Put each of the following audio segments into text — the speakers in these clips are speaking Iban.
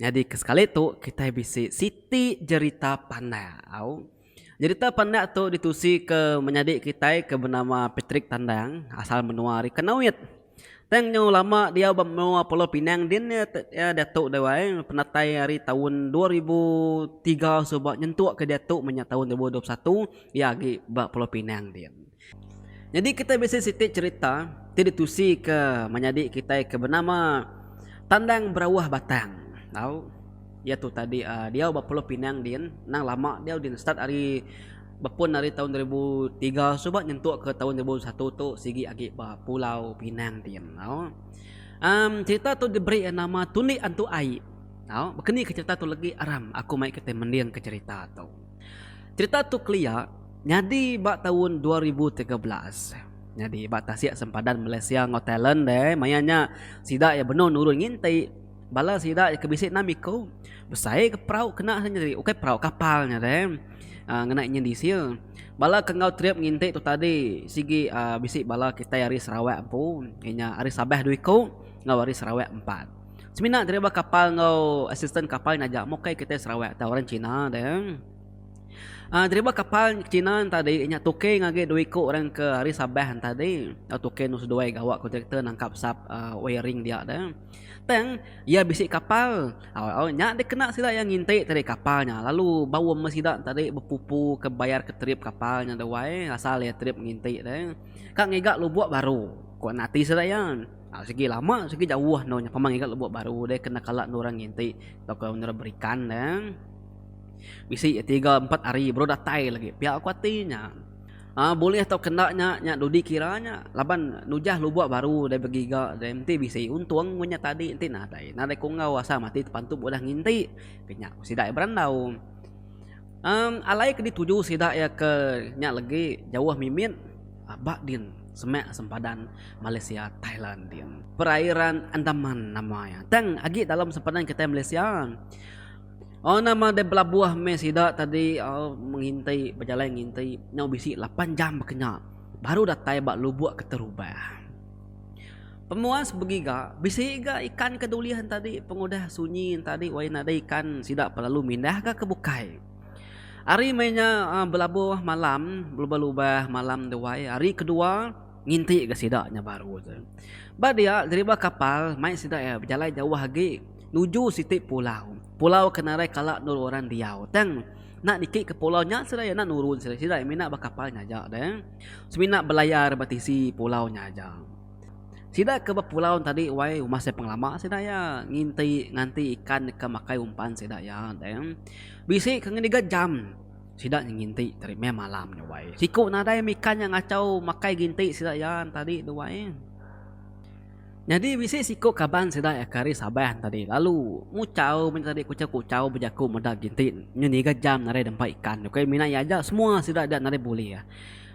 Nyadi ke sekali tu kitai bisi siti jerita pandak. Au. Jerita pandak tu ditusi ke menyadi kitai ke benama Patrick Tandang asal menua ari Kanowit. Tang nyau lama diau ba menua Pulau Pinang din iya iya diatu dau ai penatai ari taun dua ribu tiga suba nyentuk ke diatu meh nya taun dua ribu dua puluh satu iya agi ba Pulau Pinang din. Nyadi kitai bisi siti cherita ti ditusika menyadi kitai ke benama Tandang Berauh Batang tau iya tu tadi diau ba Pulau Pinang din nang lama diau din start ari bepun ari taun dua ribu tiga suba nyentuk ke taun dua ribu dua puluh satu tu sigi agi ba Pulau Pinang din tau em cherita tu diberi nama Tulik Antu Ai tau baka ni ke cherita tu legi aram aku mai kitai mendingka cherita tu. Cherita tu kelia nyadi ba taun dua ribu tiga belas. Nyadi ba tasik sempadan Malaysia enggau Thailand deh maya nya sida iya benung nurun nginti bala sida iya ke bisi enam iku besai ke perau kena nya tadi ukai perau kapal nya deh aaa ngena inyin diesel. Bala ke enggau trip nginti tu tadi sigi aaa bisi bala kitai ari Sarawak empu inya ari Sabah dua iku enggau ari Sarawak empat. Semina driver kapal enggau asisten kapal naja mukai kitai Sarawak tau orang China deh. Uh, driver kapal China tadi nya tuke ngagi dua iku orang ke hari Sabah tadi. Uh, tuke nu seduai gawa kontraktor nangkap sap uh, wiring dia deh. Tang ia bisi kapal. Au au nya dikena sida yang nginti tadi kapal nya. Lalu bau ama sida tadi bepupu ke bayar ke trip kapal nya duai asal ia trip nginti deh. Kak ngiga lubuk baru. Ko nati sida yan. Sigi lama sigi jauh endur nya pama ngiga lubuk baru deh kena kala endur orang nginti tauka endur orang berikan deh. Bisi agi tiga empat hari baru datai lagi pia aku ati nya. Aa bulih tauka enda nya nya dudi kira nya laban nujah lubuk baru deh begiga deh enti bisi untung mun nya tadi enti nadai nadai ku enggau asal mati tepantup udah nginti ke nya ku sida iya berandau. Amm alai ke dituju sida iya ke nya lagi jauh mimit. Abak din, semak sempadan Malaysia Thailand din. Perairan Andaman nama iya. Tang agi dalam sempadan kitai Malaysia. Oh nama deh belabuh meh sida tadi oh menginti bejalai nginti nyau bisi lapan jam bakanya baru datai ba lubuk keterubah. Pemuas begiga bisi ga ikan ke dulih enti tadi pengudah sunyi enti tadi wayah nadai ikan sida pa lalu mindah ga ke bukai. Ari meh nya belabuh malam belubah-lubah malam tu wai hari kedua nginti ga sida nya baru tu. Ba dia deriba kapal mai sida iya bejalai jauh agi nuju siti pulau. Pulau ke nadai kala endur orang diau tang enda niki ke pulau nya sida iya enda nurun sida iya mina ba kapal nya aja deh. Semina belayar ba tisi pulau nya aja. Sida ke ba pulau tadi wai masih pengelama sida iya nginti nganti ikan deka makai umpan sida iya deh. Bisi ke ngendiga jam sida nginti tadi meh malam nya wai. Siku nadai mika nya ngachau makai ginti sida iya tadi tu wai. Nyadi bisi siku kaban sida iya ke ari Sabah tadi lalu nguchau meh tadi kuchau kuchau bejaku meda ginti ngendiga jam nadai dempa ikan ku iya mina iya aja semua sida dia nadai bulih.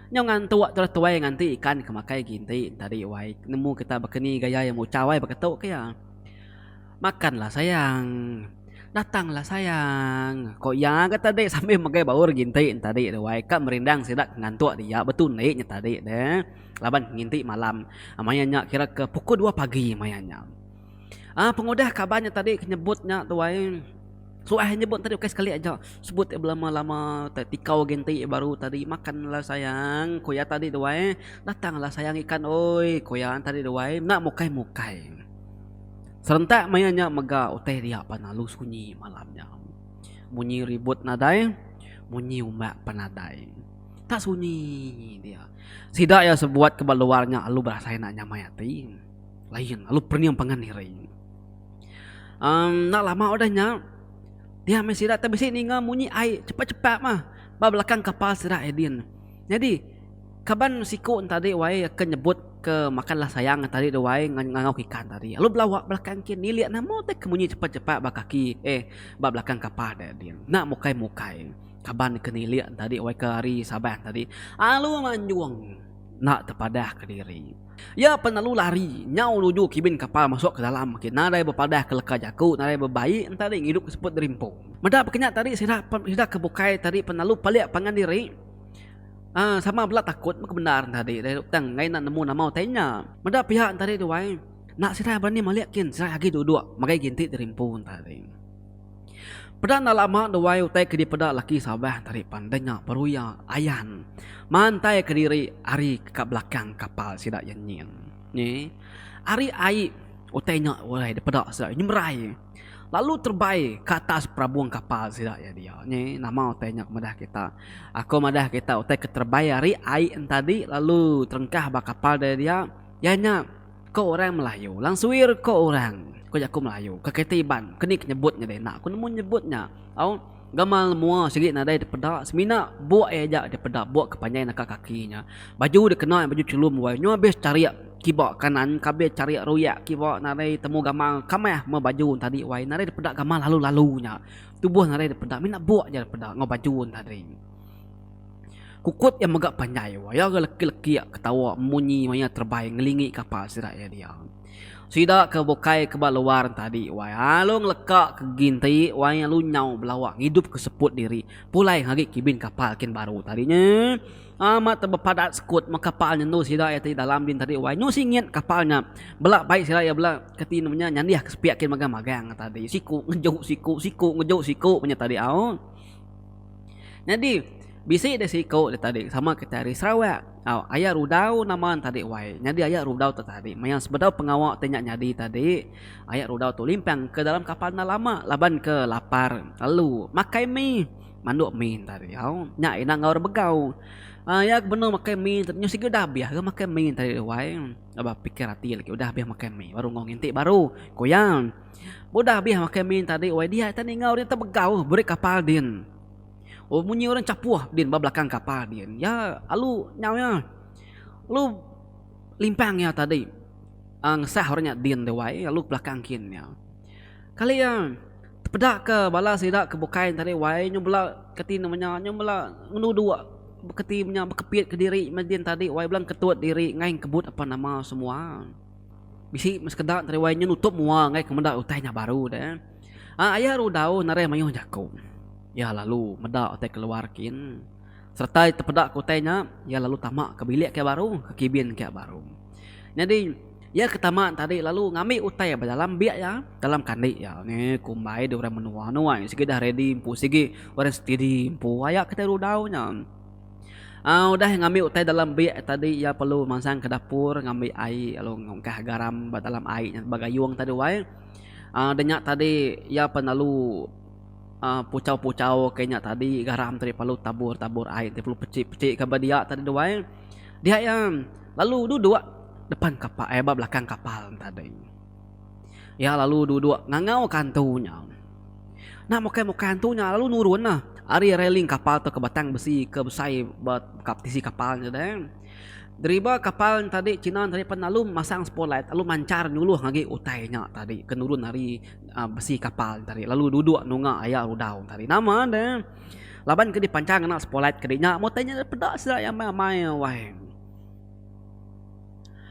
Nyau ngantuk terus tuai nganti ikan ke makai ginti tadi wai nemu kita baka ni gaya iya nguchau ai baka tu ke iya. Makanlah sayang. Datanglah sayang. Ko iya ga tadi sambil megai baur ginti entadi tu ai ka merindang sida ke ngantuk dia betundi nya tadi tu laban nginti malam maya nya kira ke pukul dua pagi maya nya. Aaa pengudah kaban nya tadi ke nyebut nya tu ai suah iya nyebut tadi ukai sekali aja sebut iya belama-lama te tikau ginti iya baru tadi makanlah sayang ku iya tadi tu ai datanglah sayang ikan oi ku iya tadi tu ai enda mukai-mukai. Serentak maya nya mega utai ria pan alu sunyi malam nya. Munyi ribut nadai, munyi umak pan nadai. Tak sunyi dia. Sida iya sebuat ke ba luar nya alu berasai enda nyamai ati. Lain alu pening pangan diri. Amm enda lama udah nya dia meh sida tu bisi ninga munyi ai chepat-chepat mah ba belakang kapal sida Edin. Nyadi. Kaban siku entadi wai ke nyebut ke makanlah sayang entadi de wai ngangau ke ikan tadi lalu belawa belakang kin nilik nama utai ke munyi cepat cepat ba kaki eh ba belakang kapal de din enda mukai mukai kaban ke nilik entadi wai ke hari sabah entadi alu manjung enda tepadah kediri ya pen alu lari nyau nuju kibin kapal masuk ke dalam agi nadai bepadah ke leka jaku nadai bebaik entadi ngidup ke seput derimpung meda pekenya tadi sida sida ke bukai tadi pen alu pelik pangan diri. Aa sama bela takut mega bendar enda adi deh tang ngai enda nemu nama utai nya. Meda piak enti ari tu ai enda sirai berani malik kin sirai agi duduk magai agi enti terimpu enti ari. Peda enda lama duai utai ke dipeda laki Sabah enti ari pan deh nya baru iya ayan mantai ke diri ari ka belakang kapal sida iya nyin. Nyi ari ai utai nya weh dipeda sida nyemerai. Lalu terbai ke atas perabung kapal sida iya dia. Nyi nama utai nya madah kita. Aku madah kita utai ke terbai ari ai entadi lalu terengkah ba kapal dia dia iya nya ko orang melayu lang suir ko orang ko jaku melayu ke keti iban keni ke nyebut nya dei enda ku nemu nyebut nya au. Gamal mua sigi nadai dipeda semina buk iya aja dipeda buk ke panjai naka kaki nya. Baju dak kena baju chelum wai nyu abis charik kiba kanan ka abis charik ruyak kiba nadai temu gamal kamah meh baju tadi wai nadai dipeda gamal lalu-lalu nya. Tubuh nadai dipeda mina buk aja dipeda enggau baju tadi. Kukut iya mega panjai wai iya ga leki-leki ketawa munyi maya terebai ngelingi kapal sida iya diau. Sida ke bukai ke ba luar enti adi wai alu ngeleka ke ginti wai alu nyau belawa ngidup ke seput diri pulai ngagi kibin kapal kin baru tadi nya amat te bepadat sekut meh kapal nya endu sida iya ti dalam din tadi wai nyu singit kapal nya bela bai sida iya bela ke ti nemu nya nyandih ke sepiak kin magang-magang tadi siku ngeju siku siku ngeju siku nya tadi au. Nyadi bisi deh siko deh tadi sama kitai ari Sarawak au aya rudau nama ne tadi wai nyadi aya rudau tu tadi maya sebedau pengawa ti nya nyadi tadi aya rudau tu limpang ke dalam kapal enda lama laban ke lapar lalu makai mi mandok mi tadi au nya ina enggau orang begau aaa iya benung makai mi nyau sigi udah abih ke makai mi tadi wai aba pikir ati lagi udah abih makai mi baru enggau nginti baru ku iya. Udah abih makai min tadi wai diak ita ninga orang tebegau beri kapal din. Oh munyi orang chapuh din ba belakang kapal din. Iya alu nyau iya. Alu limpang iya tadi uhh ngesah orang nya din deh wai alu belakang kin iya. Kali iya tepeda ke bala sida ke bukai tadi wai nyau bela kati nama nya nyau bela ngenudu kati inya bekepit kediri meh din tadi wai bela ngeketut diri ngai ngekebut apan nama semua. Bisi meh sekeda entara wai nya nutup mua enggai ke meda utai nya baru deh. Aa aya rudau narai mayuh jaku. Iya lalu meda utai keluar kin. Sereta iya tepeda ke utai nya, iya lalu tama ke bilik ke baru, ke kibin ke baru. Nyadi iya ke tama nya tadi lalu ngambi utai ba dalam bik iya, dalam kandi iya. Nge kumbai deh orang menua nuai. Sigi dah ready empu sigi orang steady empu. Aya kitai rudau nya. Udah ngambi utai dalam bik tadi iya perlu mansang ke dapur ngambi ai lalu ngungkah garam ba dalam ai nya ba gayung tadi wai da nya tadi iya pan lalu aaa puchau-puchau ke nya tadi garam tadi perlu tabur-tabur ai ti perlu pechik-pechik ka ba dia tadi tu ai. Dia iya lalu duduk depan kapa ai ba belakang kapal tadi. Iya lalu duduk ngangau ka antu nya. Enda mukai mukai antu nya lalu nurun lah ari railing kapal tu ke batang besi ke besai ba tisi kapal nya deh. Driba kapal tadi kinan tadi pan lalu masang spot light lalu manchar nyuluh agi utai nya tadi ke nurun ari besi kapal tadi lalu duduk nunga aya rudau tadi. Nama deh laban ke dipanchar ngena spot light ke dinya mun utai nya peda sida iya amai amai wai.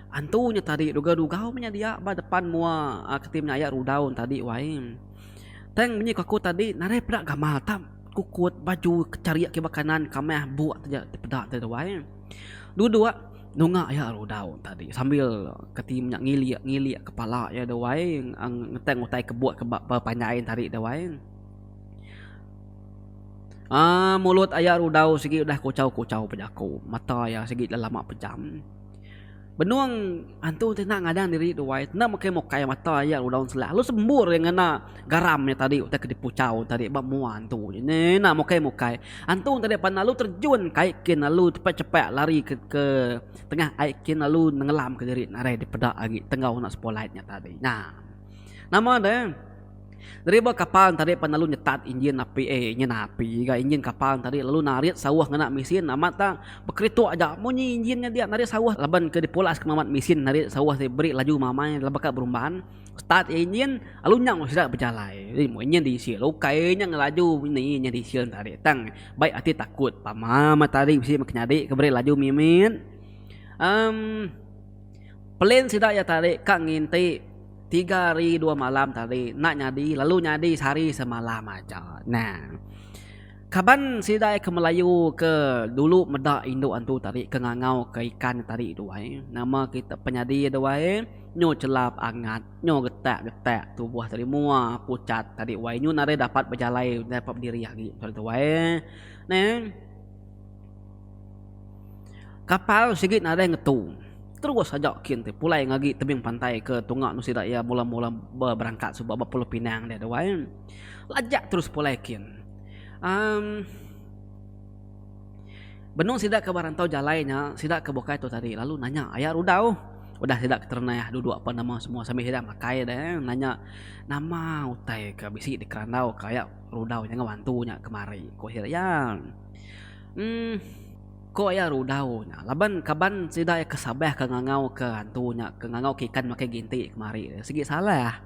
Antu nya tadi dugau-dugau meh nya dia ba depan mua keti menya aya rudau nya tadi wai. Tang munyi aku tadi nadai peda gamal ta kukut baju kecharik kiba kanan kamah buk ti peda tadi tu wai. Duduk nunga aya rudau tadi sambil keti menya ngilik-ngilik kepala iya tu wai ngetang utai kebuk ba panjai tadi tu wai. Aaa mulut aya rudau sigi udah kuchau-kuchau bejaku mata iya sigi lelama pejam. Benung antu ti enda ngadan diri tu wai enda mukai-mukai mata iya rudau ensela lalu sembur iya ngena garam iya tadi utai ke dipuchau tadi ba mua antu nya ngena mukai-mukai. Antu tadi pan lalu terjun kai kin lalu cepat-cepat lari ke ke tengah ai kin lalu nenggelamka diri narai dipeda agi tenggau enda sepolite nya tadi. Nah nama deh. Deriba kapal ntadi pan lalu nyetat injin api eh injin api ga injin kapal ntadi lalu narit sauh ngena mesin amat tang bekerituk aja munyi injin nya dia narit sauh laban ke dipulas ke mamat mesin narit sauh ti beri laju mamai lalu baka berumban start je injin lalu nya meh sida bejalai ri meh injin diesel ukai nya ngelaju ni injin diesel ntadi tang bai ati takut pama matahari bisi meh ke nyadi ke beri laju mimit em. Plan sida iya tadi ka nginti tiga hari dua malam tadi enda nyadi lalu nyadi sehari semalam aja nah kaban sida ke melayu ke dulu meda indu antu tadi ke ngangau ka ikan tadi tu ai nama kita penyadi tu ai nyu chelap angat nyu getak getak tubuh tadi mua pucat tadi wai nyu nadai dapat bejalai dapat bediri agi tu ai neh. Kapal sigi nadai ngetu. Terus aja kin ti pulai ngagi tebing pantai ke tunga nu sida iya mula-mula berangkat suba ba Pulau Pinang deh duai. Lajak terus pulai kin. Amm benung sida ke ba rantau jalai nya sida ke bukai tu tadi lalu nanya aya rudau. Udah sida keterenah duduk apan nama semua sambil sida makai deh nanya nama utai ke bisi dikerandau ka aya. Rudau nya enggau antu nya kemari, ku Hir iya. Emm, ku iya rudau nya laban kaban sida iya ke Sabah ke ngangauka antu nya ke ngangauka ikan makai ginti kemari. Sigi salah.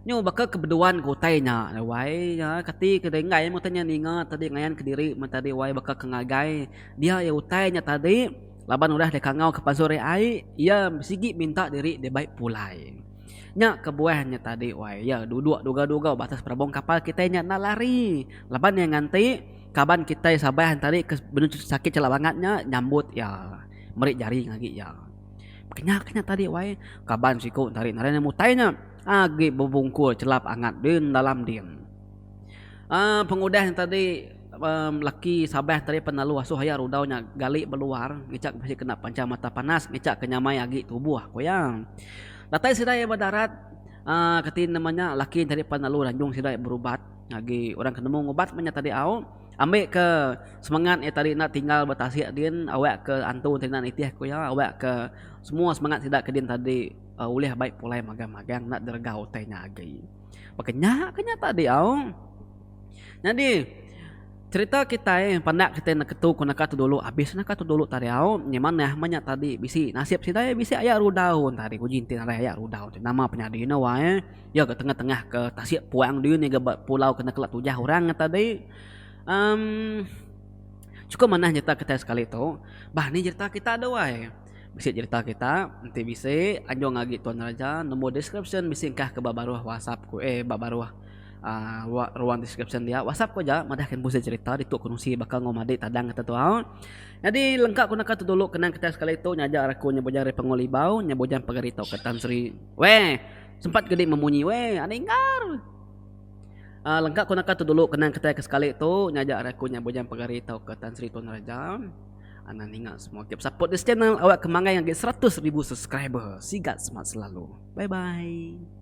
Nyu baka ke beduan ke utai nya ai wai. Kati ke denggai meh utai nya ninga tadi ngayan kediri meh tadi wai baka ke ngagai dia iya utai nya tadi laban udah dikangauka pansut ri ai, iya sigi minta diri dibai pulai. Nya kebuah nya tadi wai iya duduk dugau-dugau ba atas perabung kapal kitai nya enda lari laban iya nganti kaban kitai Sabah tadi ke benung sakit chelak bangat nya nyambut iya meri jari ngagi iya. Kenya ke nya tadi wai kaban siku tadi ngaran iya Mutai nya agi bebungkur chelap angat din dalam din. Um pengudah nya tadi. Laki Sabah tadi pan lalu asoh iya rudau nya gali ba luar ngichak bisi kena panchang mata panas ngichak ke nyamai agi tubuh ku iya. Datai sida iya ba darat aaa kati nama nya laki tadi pan lalu ranjung sida berubat agi orang ke nemu ngubat inya tadi au ambi ke semangat iya tadi enda tinggal ba tasik din awak ke antu tadi enda nitih ku iya awak ke semua semangat sida ke din tadi ulih bai pulai magang-magang enda diregau utai nya agi. Baka nya ke nya tadi au. Nyadi cerita kitai pandak kitai naka tu ku naka tu dulu abis naka tu dulu tadi au nya manah manya tadi bisi nasib sida iya bisi aya rudau tadi uji enti ngaran aya rudau ti nama penyadi ne wai eh iya ga tengah tengah ke tasik puang diri ngiga ba pulau ke naka la tujah orang nya tadi emm chukup manah nyerita kitai sekali tu bah ni nyerita kita duai. Bisi cerita kita enti bisi anjung agi tuan raja nombor deskripsyen bisi engkah ke ba baruh whatsapp ku eh ba baruh uhh ruang deskripsyen dia whatsapp ku aja madah ke busi cerita ditu ku nusi baka enggau madik tadang kita tu au nyadi lengka ku naka tu dulu kenang kita sekali tu nyaja aku nya bujang ari pengul ibau nya bujang pagar ito ke tan sri weh sempat ke di memunyi weh ane inggar uhh lengka ku naka tu dulu kenang kita ke sekali tu nyaja ari aku nya bujang pagar ito ke tan sri tuan raja. Anang ninga semua gap support this channel awak ke manggai ngagi 100 ribu subscriber. Sigat semat selalu. Bye bye.